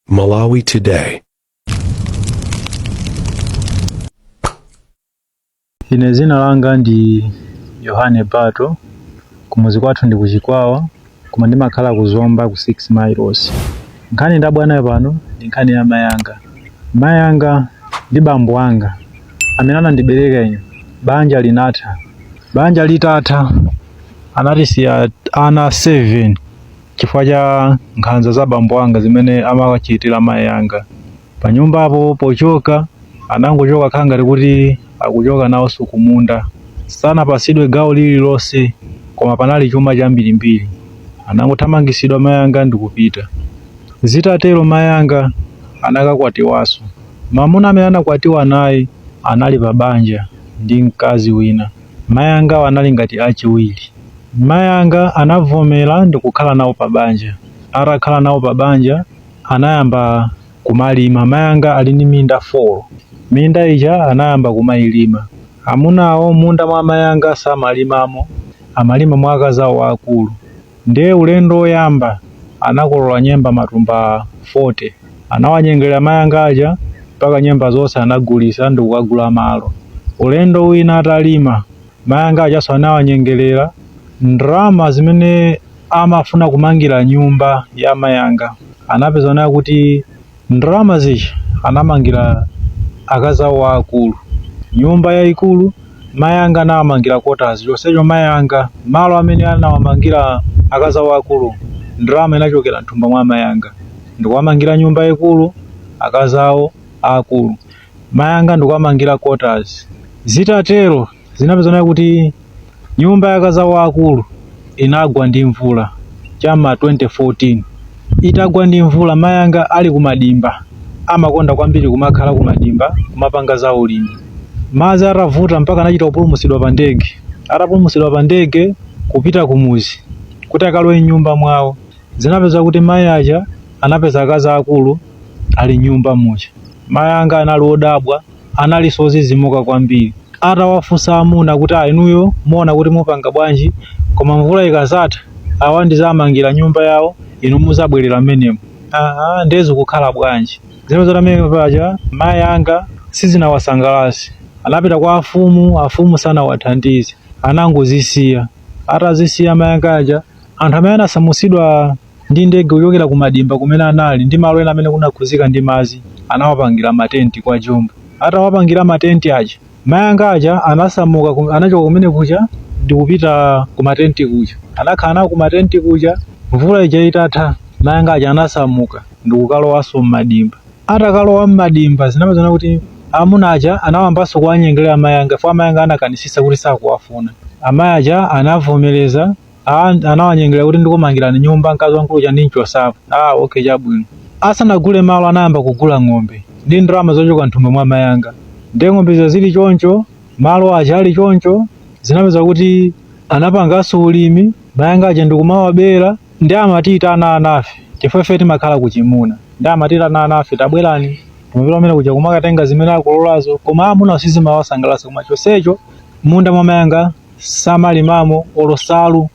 Malawi Today. Ine dzina langa ndi Yohane Bato, kumuzi kwathu ndi kuchikwawa koma ndimakhala ku Zomba ku 6 miles. Nkhani ndabwera nayo pano ndi nkhani ya mayi anga. Mayi anga ndi bambo anga amene anandibereka ine, banja linatha. Banja litatha anatisiya ana 7. chifukwa cha nkhanza za bambo anga zimene amawachitira mayi anga panyumbapo. Pochoka anangochoka kukhala ngati kuti akuchoka nawo kumunda. Sanapatsidwe gawo lililonse koma panali chuma chambirimbiri. Anangothamangitsidwa mayi anga ndi kupita. Zitatero mayi anga anakakwatiwanso. Mwamuna amene anakwatiwa naye anali pa banja ndi mkazi wina. Mayi angawa anali ngati achiwiri. Mayi anga anavomera ndikukhala nawo pa banja. Atakhala nawo pa banja, anayamba kumalima. Mayi anga ali ndi minda 4. Minda ija anayamba kumayilima. Amunawo m'munda mwa mayi anga samalimamo, amalima mwa akazi awo aakulu. Ndiye ulendo woyamba anakolola nyemba matumba 40. Anawanyengerera mayi anga aja mpaka nyemba zonse anagulitsa ndi kukagula malo. Ulendo wina atalima, mayi anga ajanso anawanyengerera ndalama zimene amafuna kumangira nyumba ya amayi anga. Anapeza kunena kuti Ndalama zija anamangira akazi awo aakulu nyumba yaikulu, mayi anga anawamangira kotazi, chonsecho mayi anga malo amene anawamangira akazi awo aakulu ndalama inachokera m'thumba mwa amayi anga. Ndikuwamangira nyumba yaikulu akazi awo aakulu, mayi anga ndikuwamangira kotazi. Zitatero. zinapezeka kuti nyumba ya akazi awo aakulu inagwa ndi mvula cha m'ma 2014 itagwa ndi mvula mayanga ali kumadimba amakonda kwambiri kumakhala kumadimba kumapanga za ulimi madzi atavuta mpaka anachita kupulumutsidwa pa ndege atapulumutsidwa pa ndege kupita kumuzi kuti akalowe m'nyumba mwawo zinapeza kuti mayi aja anapeza akazi aakulu ali m'nyumba muja mayi anga anali odabwa analinso odzidzimuka kwambiri. Atawafunsa amuna kuti, a inuyo muona kuti mupanga bwanji? Koma mvula ikazatha, awa ndizawamangira nyumba yawo, inu muzabwerera mmenemo. Aa, nde zokukhala bwanji? Zimene zatamveka paja mayi anga sizinawasangalatse. Anapita kwa afumu, afumu sanawathandize, anangozisiya. Atazisiya mayi anga aja, anthu amene anasamutsidwa. ndi ndege kuchokera ku madimba kumene anali ndi malo ena amene kunakhuzika ndi madzi anawapangira matenti kwa jumba atawapangira matenti aja mayanga aja anasamuka anachoka kumene kuja ndikupita ku matenti kuja anakhala nawo ku matenti kuja mvula ija itatha mayanga aja anasamuka ndikukalowanso mmadimba atakalowa mmadimba zinapezana kuti amuna aja anawambanso kuwanyengerera mayanga fwa amayanga anakanisisa kuti sakuwafuna amayi aja anavomereza Ah, anawanyengera kuti ndikumangirani nyumba mkazi wamkulu uja ndimchosapo. Ah, okay chabwino. Asanagule malo anayamba kugula ng'ombe ndi ndalama zochoka mthumba mwa mayanga. Ndiye ng'ombe zija zili choncho, malo aja ali choncho, zinapeza kuti anapanganso ulimi, mayanga aja ndikumawabera, ndi amatita ana anafe. Chifukwa ife timakhala kuchimuna. Ndi amatita ana anafe tabwerani. Tumapita umene kuja kumakatenga zimene akulolazo, koma amuna sizimawasangalatsa koma chonsecho munda mwa mayanga samalimamo olo salu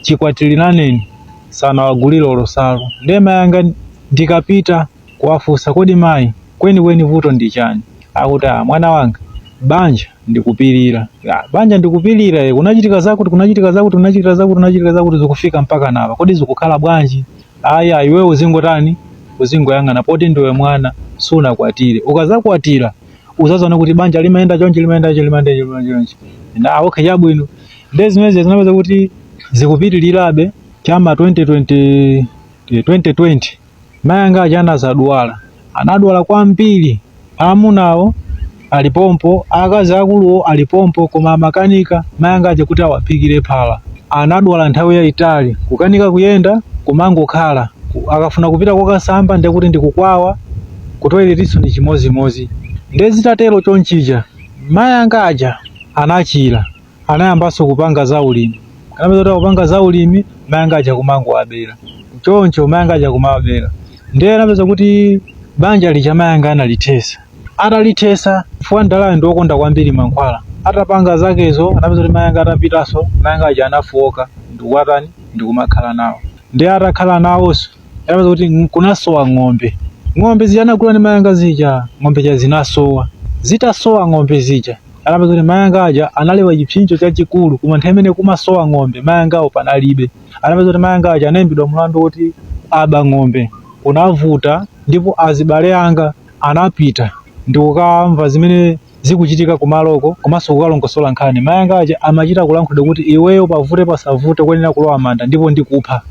chikwatiliraneni sanawagulire olo salu ndiye mayanga ndikapita kuwafunsa kodi mayi kwenikweni vuto ndi chani akuti "Ah, mwana wanga banja ndikupirira "Ah, banja ndikupirira eh, kunachitika zakuti kunachitika zakuti kunachitika zakuti kunachitika zakuti zikufika mpaka napa kodi zikukhala bwanji ayi iwe uzingotani uzingoyang'ana poti ndiwe mwana sunakwatire ukazakwatira uzaziona kuti banja limayenda chonchi limayenda chonchi limayenda chonchi limayenda chonchi ah okay chabwino nde zimezi zinapeza kuti zikupitirirabe chama 2020 eh, 2020 mayanga aja anazadwala anadwala kwambiri amunawo alipompo akazi akuluwo alipompo koma amakanika mayanga aja kuti awaphikire phala anadwala nthawi yayitali kukanika kuyenda kumangokhala akafuna kupita kokasamba ndekuti ndikukwawa kutoiletinso ndi chimozimozi. Ndiye zitatero chonchija mayanga aja anachira, anayambanso kupanga zaulimi. Anapeza kuti akupanga zaulimi, mayanga aja kumangowabera. Choncho mayanga aja kumawabera. Ndiye anapeza kuti banja lija mayanga analithesa. Atalithesa chifukwa mdalayo ndi wokonda kwambiri mankhwala, atapanga zakezo anapeza kuti mayanga atapitanso, mayanga aja anafooka ndi kuwatani, ndi kumakhala nawo. Ndiye atakhala nawonso. Anapeza kuti kunasowa ng'ombe. Ng'ombe zija anagula ni mayanga zija, ng'ombe zija zinasowa. Zitasowa ng'ombe zija, anapeza kuti mayanga aja analewa chipsinjo chachikulu, koma nthawi imene kumasowa ng'ombe, mayangawo panalibe. Anapeza kuti mayanga aja anaimbidwa mlandu woti aba ng'ombe. Kunavuta ndipo azibale anga anapita ndikukamva zimene zikuchitika kumaloko komanso kukalongosola nkhani mai anga aja amachita kulankhulidwa kuti iweyo pavute pasavute kuyenera kulowa manda ndipo ndikupha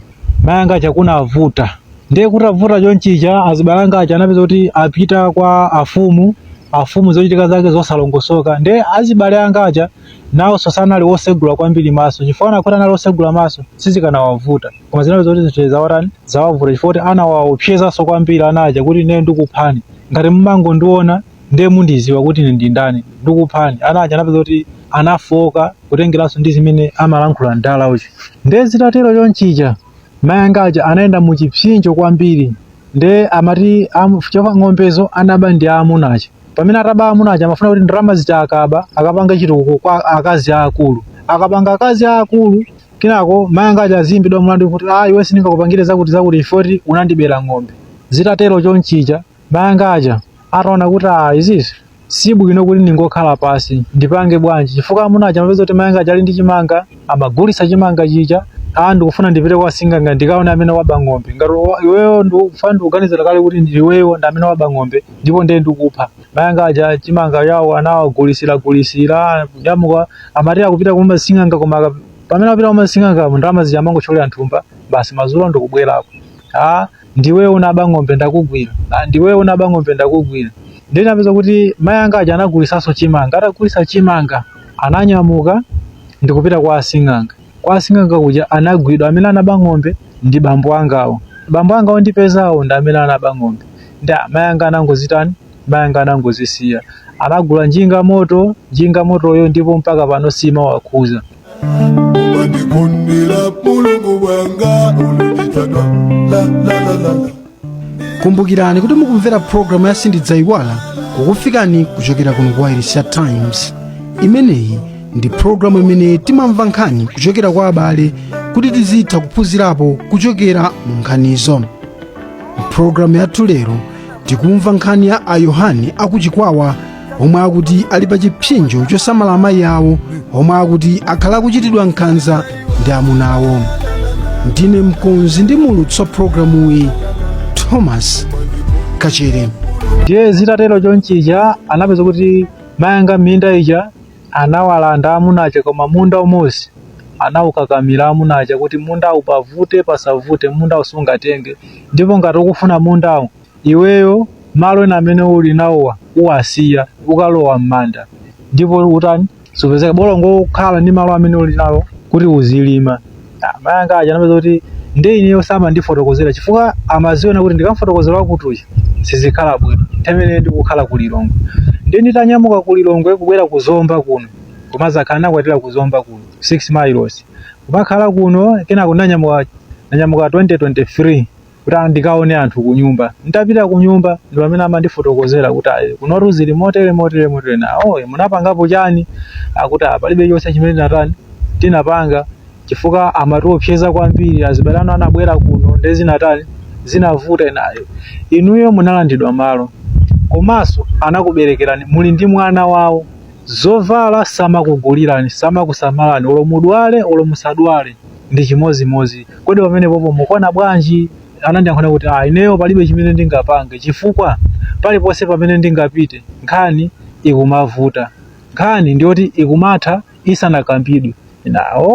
mai anga aja kunavuta ndiye kutavuta chonchija azibale anga aja anapeza kuti apita kwa afumu afumu zochitika zake zosalongosoka ndiye azibale anga aja nawonso sanali wosegula kwambiri maso chifukwa akanakhala kuti anali wosegula maso sizikanawavuta koma zinapeza kuti zinthu zawatani zawavuta chifukwa kuti anawaopsezanso kwambiri ana aja kuti ine ndikuphani ngati mumangondiona ndiye mundiziwa kuti ine ndi ndani ndikuphani ana aja anapeza kuti anafoka kutengeranso ndi zimene amalankhula mdala uja ndiye zitatero chonchija mayi anga aja anayenda mu chipsinjo kwambiri ndiye amati amu- chifukwa ng'ombezo anaba ndi aamuna aja pamene ataba aamuna aja amafuna kuti ndalama zija akaba akapanga chitukuko kwa akazi aakulu akapanga akazi aakulu kenako mayi anga aja aziyimbidwa mlandu kuti ah iwe sindingakupangire zakuti zakuti poti unandibera ng'ombe zitatero chonchija Mayanga aja ataona kuti ah, izizi si bwino kuti ndingokhala pasi ndipange bwanji chifukwa amuna aja amapeza kuti mayanga aja ali ndi chimanga amagulitsa chimanga chija ah, ndikufuna ndipite kwa sing'anga ndikaone amene waba ng'ombe ngati wa- iweyo ndikufuna ndikuganizira kale kuti ndi iweyo ndi amene waba ng'ombe ndipo ndiye ndikupha mayanga aja chimanga chawo anawagulisira gulisira nyamuka amati akupita kumba sing'anga koma aka- pamene apita kumba sing'anga ndalama zija amangotcholera nthumba basi madzulo ndikubwerako ah ndiweyo unaba ng'ombe ndakugwira ah, ndiweyo unaba ng'ombe ndakugwira ndiye napeza kuti mayi anga aja anagulisanso chimanga atagulisa chimanga ananyamuka ndikupita kwa asing'anga kwa asing'anga kuja anagwidwa amene anaba ng'ombe ndi bambo angawo bambo angawo ondipezawo ndi amene anaba ng'ombe ndi a- mayi anga anangozitani mayi anga anangozisiya anagula njinga moto njinga motoyo ndipo mpaka pano simawakhudza Mumandikondera mulungu wanga ulunitadwa la la la la la kumbukirani kuti mukumvera pulogalamu ya sindidzaiwala kukufikani kuchokera kuno kuwailesi ya times imeneyi ndi pulogalamu imene timamva nkhani kuchokera kwa abale kuti tizitha kuphunzirapo kuchokera mu nkhanizo mpulogalamu yathu lero tikumva nkhani ya ayohane akuchikwawa omwe akuti ali pa chipsinjo chosamala amayi awo omwe akuti akhala akuchitidwa nkhanza ndi amuna awo ndine mkonzi ndi muulutsi wa programuyi thomas kachere ndiye zitatero chonchija anapeza kuti mayanga minda ija anawalanda amuna aja koma munda umodzi anaukakamira amuna aja kuti mundawu pavute pasavute mundawu sungatenge ndipo ngati ukufuna mundawu Iweyo malo ena amene uli nawowa uwasiya, ukalowa m'manda ndipo utani, supezeka. Bola ungokhala ndi malo amene uli nawo kuti uzilima. Mayi anga aja anapeza kuti ndiye ineyo samandifotokozera chifukwa amaziona kuti ndikamufotokozera kuti chi sizikhala bwino. Nthawi imeneyo ndikukhala ku Lilongwe. Ndiye nditanyamuka ku Lilongwe kubwera ku Zomba kuno, kumadzakhala ndinakwatira ku Zomba kuno, 6 miles. Kumakhala kuno, kenako ndinanyamuka 2023. kuti ndikaone anthu kunyumba nditapita kunyumba ndi pamene amandifotokozera kuti ayi kunotu zili motere motere motere nanga munapangapo chani akuti "Ah, palibe chonse chimene tinatani tinapanga chifukwa amatiopseza kwambiri azibale anu anabwera kuno nde zinatani zinavuta nawo inuyo munalandidwa malo komanso anakuberekerani muli ndi mwana wawo zovala samakugulirani samakusamalani olo mudwale olo musadwale ndi chimodzimodzi. Kodi pamenepopo mukuona bwanji? Anandiyankhula kuti, ah, ineyo palibe chimene ndingapange chifukwa paliponse pamene ndingapite nkhani ikumavuta. Nkhani ndiyoti ikumatha isanakambidwe. Nawo.